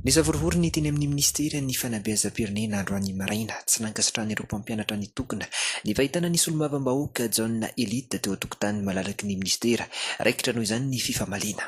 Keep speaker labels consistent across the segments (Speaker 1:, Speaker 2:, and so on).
Speaker 1: Nisavorovoro ny teny amin'ny Minisiteran'ny Fanabeazam-pirenena androany maraina, tsy nankasitrahana ireo mpampianatra nitokona, ny fahitana ny solombavambahoaka Jaona Elite teo an-tokotanin'ny malalaky ny Minisitera. Raikitra noho izany ny fifamaliana.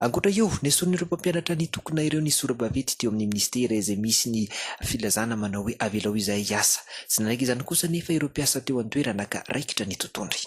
Speaker 1: Ankoatra io, nesorin'ireo mpampianatra nitokona ireo ny sora-baventy teo amin'ny minisitera izay misy ny filazana manao hoe avelao izahay hiasa. Tsy nanaiky izany kosa anefa ireo mpiasa teo an-toerana ka raikitra ny totohondry.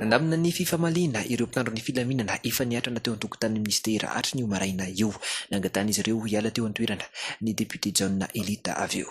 Speaker 1: Nandamina ny fifamaliana ireo mpitandro ny filaminana efa niatrana teo an-tokotanin'ny minisitera hatry ny maraina io. Nangatahin'izy ireo hiala teo an-toerana ny depiote Jaona Elita avy eo.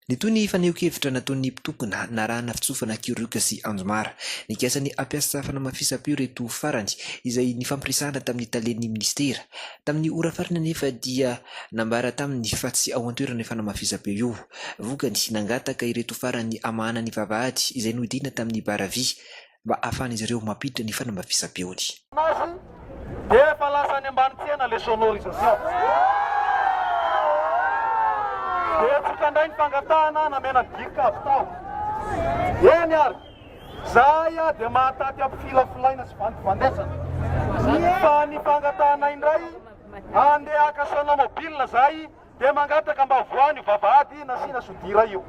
Speaker 1: Nitohy ny fanehoan-kevitra nataon'ny mpitokona narahana fitsofana Kioriuka sy Anjomara. Nikasa ny hampiasa fanamafisam-peo ireto farany, izay nifampiresahana tamin'ny talen'ny minisitera. Tamin'ny ora farany anefa dia nambara taminy fa tsy ao an-toerana io fanamafisam-peo io. Vokany, nangataka ireto farany hamahana ny vavahady izay nohidiana tamin'ny bara vy. mba hahafahan'izy ireo mampiditra ny fanamafisam-peony. Azy
Speaker 2: dia efa lasa any ambany tsena le sonorisation. Betsaka ndray ny fangatahana namena gig avy tao. Eny ary, zahay ah dia mahataty am filafolaina sy vandivandesana. Fa ny fangatahanay ndray, handeha haka sonomobile zahay, dia mangataka mba voany io vavahady nasiana
Speaker 1: sodira io.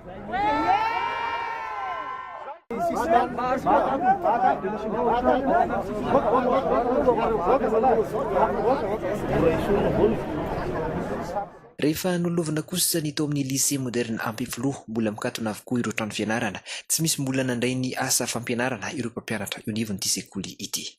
Speaker 1: Rehefa nolovina kosa ny tao amin'ny Lycée Moderne Ampefiloha, mbola mikatona avokoa ireo trano fianarana, tsy misy mbola nandray ny asa fampianarana ireo mpampianatra eo anivon'ity sekoly ity.